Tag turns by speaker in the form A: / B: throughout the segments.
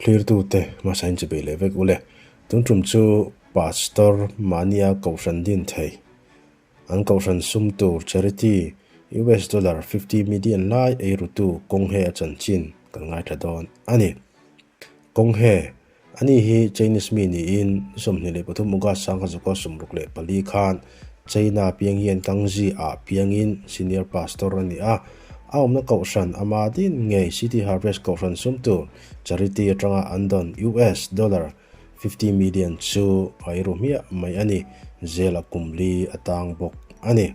A: Thlirtute hmasa in chawhbeih leh vek ule. Tun tum chu Pastor mahnia Kohhran din thei, an Kohhran sum tur charity US dollar fifty million lai eirutu Kawnghe a chanchin kan ngaithla dawn a ni. Kawnghe. Ani hi Chinese mi niin sawmhnih leh pathum August sang kha zawka sumruk leh pali khan China a piang hian Kangzi ah piangin Senior Pastor a ni a. A awmna Kohhran a ma din ngei City Harvest Kohhran sum tur Charity atanga an dawn US dollar fifty million chu a i ru hmiah mai a ni. Zel a kum li a tang bawk a ni.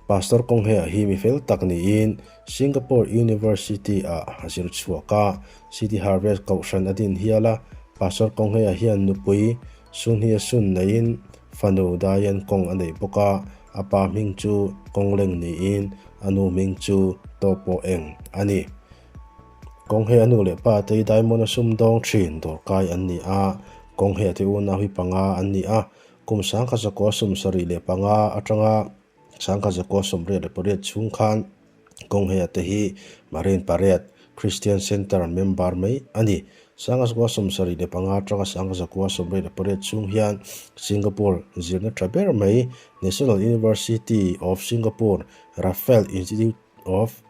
A: Pastor kawng he a hi mi fel tak niin Singapore University ah a zir chhuak a, City Harvest kohhran a din hial a, Pastor kawng he a hian nupui, Sunhia Sun neiin fanu Diane kawng a nei bawk a, a pa hming chu Kawng Leng niin a nu hming chu Taw Paw Eng a ni. Kawng he a nu leh pa te hi Diamond a sum dawng thin dawrkai an ni a, Kawng he a ti unau hi panga an ni a, Kum sangkhat zakua sum sarih leh panga atanga sangkhat zakua sawmriat leh pariat chhung khan kawng he ate hi Marine Parade Christian Centre member mai a ni. Sangkhat zakua sum sarih leh panga atanga sangkhat zakua sawmriat leh pariat chhung hian Singapore zirna tha ber mai National University of Singapore Raffles Institute of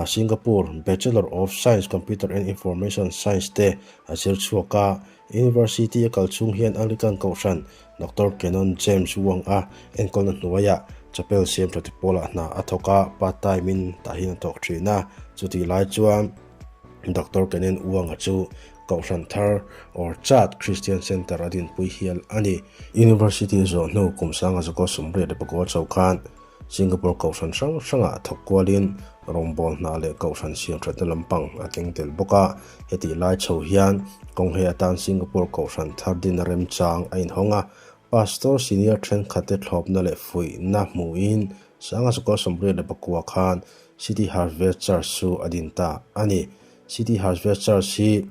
A: Singapore Bachelor of Science Computer and Information Science te a zir chhuak a, University a kal chhung hian Anglican Kohhran Doctor Canon James Wong a enkawlna hnuaiah chapel siam tha te pawla hna a thawk a, part time in tah hian a thawk thin a, chutih lai chuan Doctor Canon Wong-a chu Kohhran Thar Orchard Christian Centre a dinpui hial a ni. University zawh hnu kum sanga Zoko Sumriat le Bago Chau khan. Singapore Kohhran hrang hrangah thawk kualin rawngbâwl hna leh Kohhran siamthatna lampang a keng tel bawk a, heti lai chho hian kawng he atan Singapore Kohhran thar dina remchang a inhawng a, Pastor Senior thenkhatte thlawpna leh fuihna hmuhin Sangha Sukhawr Sawmriat le Pakua khan City Harvest Church chu a din ta a ni. City Harvest Church hi.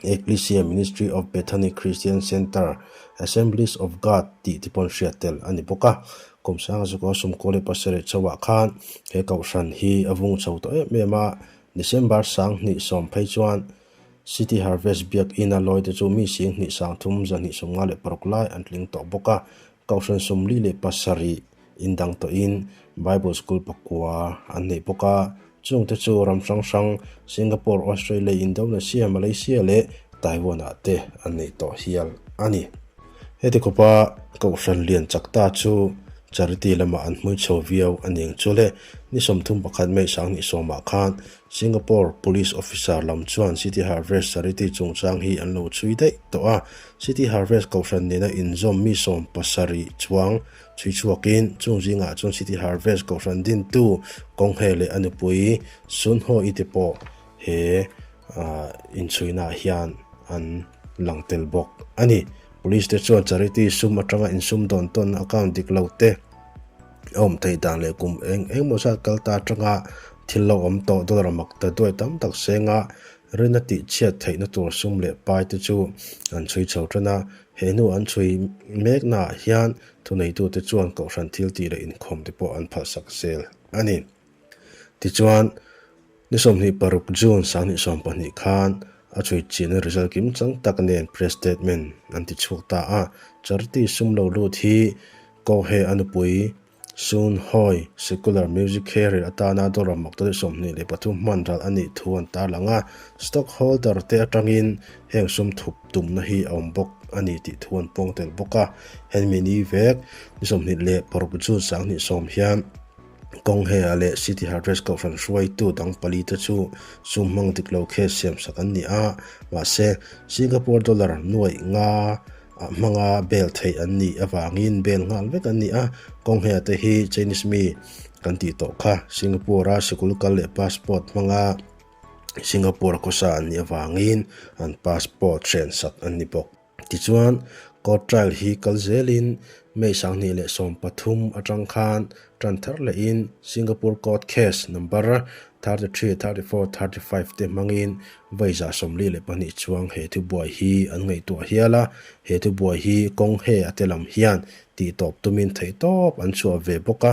A: Ecclesia Ministry of Bethany Christian Centre, Assemblies of God tih te pawh an hriat tel a ni bawk a. Kawmsanga Zukawr Sumkawleh pasarih chauhah khan he kohhran hi a vung chho tawh em em a, December sang hnih sawm phei chuan City Harvest Biakina lawite chu mi sing hnih sang thum zahnih sawmnga leh paruk lai an tling tawh bawk a, Kohhran sawmli leh pasarih indang tawhin Bible School pakua an neih bawk a, chungte chu ram hrang hrang, Singapore, Australia, Indonesia, Malaysia leh Taiwan-ah te an neih tawh hial a ni. Heti khawpa Kohhran lian chak ta chu Charity lamah an hmui chho viau a ning chu le, ni sawmthum pakhat Mei Sang ni sawmah khan Singapore Police Officer lam chuan City Harvest charity chungchang hi an lo chhui daih tawh a, City Harvest Kohhran nena inzawm mi sawm pasarih chuang chhui chhuakin chung zingah chuan City Harvest Kohhran dintu Kawng Hre leh a nupui Sun Ho I te pawh he inchhuinah hian an lang tel bawk a ni. Police te chuan charity sum atanga insumdawn tawnna a kang dik lo te, Awm theih dan leh kum eng eng maw zat kal ta atanga thil lo awm tawh dawn ramak ta duai tam tak senga Rina tih chhiat theihna tur sum leh pai te chu an chhui chho ṭan a, he hnu an chhui mek naah hian thuneitute chuan kohhran thil tih leh inkhawm te pawh an phalsak zel a ni. Tichuan, ni sawmhnih paruk June sanghnih sawm pahnih khan a chhuitchiahna result kim chang tak nen press statement an ti chhuak ta a, Charity sum lo lut hi Kowhee a nupui Soon Hoy Secular Music Career atana dollar mawkta leh sawmhnih leh pathum hmanral a nih thu an tarlang a, stock holder te atangin heng sum thup tumna hi a awm bawk a ni tih thu an puang tel bawk a, hemi ni vek ni sawmhnih leh paruk June sanghnih sawm hian Kawng Hea leh City Harvest Kohhran hruaitu dang pali te chu chum hmang dik lo khe siam sak an ni a, mahse, Singapore dollar nuaih nga ah hmanga bel theih an nih avangin bel nghal vek an ni a. Kawng Hea te hi Chinese mi kan tih tawh kha, Singapore-a sikul kal leh passport hmanga Singapore khawsa an nih avangin an passport hren sak an ni bawk. Tichuan, court trial hi kal zelin May sanghnih leh sawm pathum atang khan tan thar lehin Singapore court case number thirty three, thirty four, thirty five te hmangin vaizah sawmli leh pahnih chuang he thubuai hi an ngaihtuah hial a, he thubuai hi kawng he a te lam hian tih tawp tumin theihtawp an chhuah ve bawk a,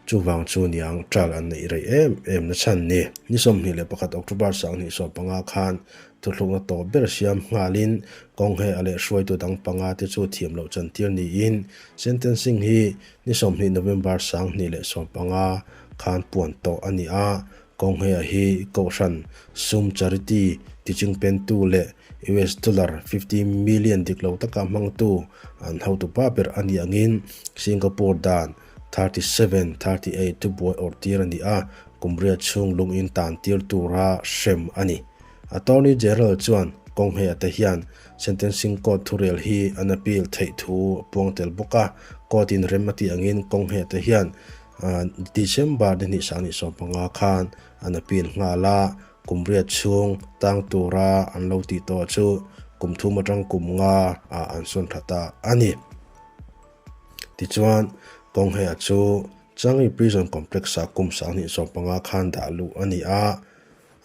A: Chuvang chu niang tal an neih rei em em nachhan ni. Ni sawmhnih leh pakhat October sanghnih sawm panga khan thuhlukna tawh ber siam nghalin kawng he a lehruaitu dang panga te chu thiam loh chantir niin sentencing hi ni sawmhnih November sanghnih leh sawm panga khan puan tawh a ni a. Kawng he a hi Kohhran sum charity tiching pentu leh US dollar fifty million dik lo taka hmangtu an hotupa ber a ni angin Singapore dan Thirty seven, thirty eight chu buai awrh tir a ni a, kum riat chhung lung in tan tir tura hrem a ni. Attorney General chuan kawng hme ata hian Sentencing Court thurel hi an appeal theih thu a puang tel bawk a, Court in rem a tih angin kawng hme ata hian December ni hnih sahni sawm panga khan an appeal nghal a, kum riat chhung tang tura an lo tih tawh chu kum thum atang kum nga ah an sawn that ta a ni. Tichuan, kawng hea chu Changi Prison Complex-a kum sanghnih sawm panga khan dah luh a ni a,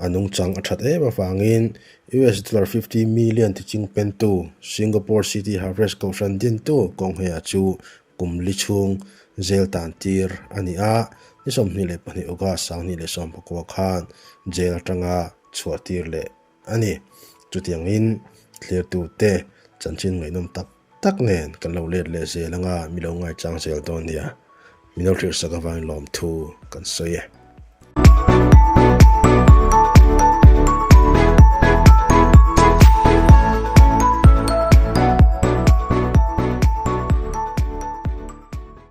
A: a nungchang a that em avangin US dollar fifty million ti ching pentu Singapore City Harvest kohhran dintu kawng hea chu kum li chhung zel tan tir a ni a, ni sawmhnih leh pahnih August sanghnih leh sawmpakua khan jail atanga chhuah tir leh a ni. Chutiangin thlirtute chanchin ngaihnawm tak tak nen kan lo let leh zel anga mi lo ngaichang zel dawn nia mino thlirsak avangin lawmthu kan sawi e.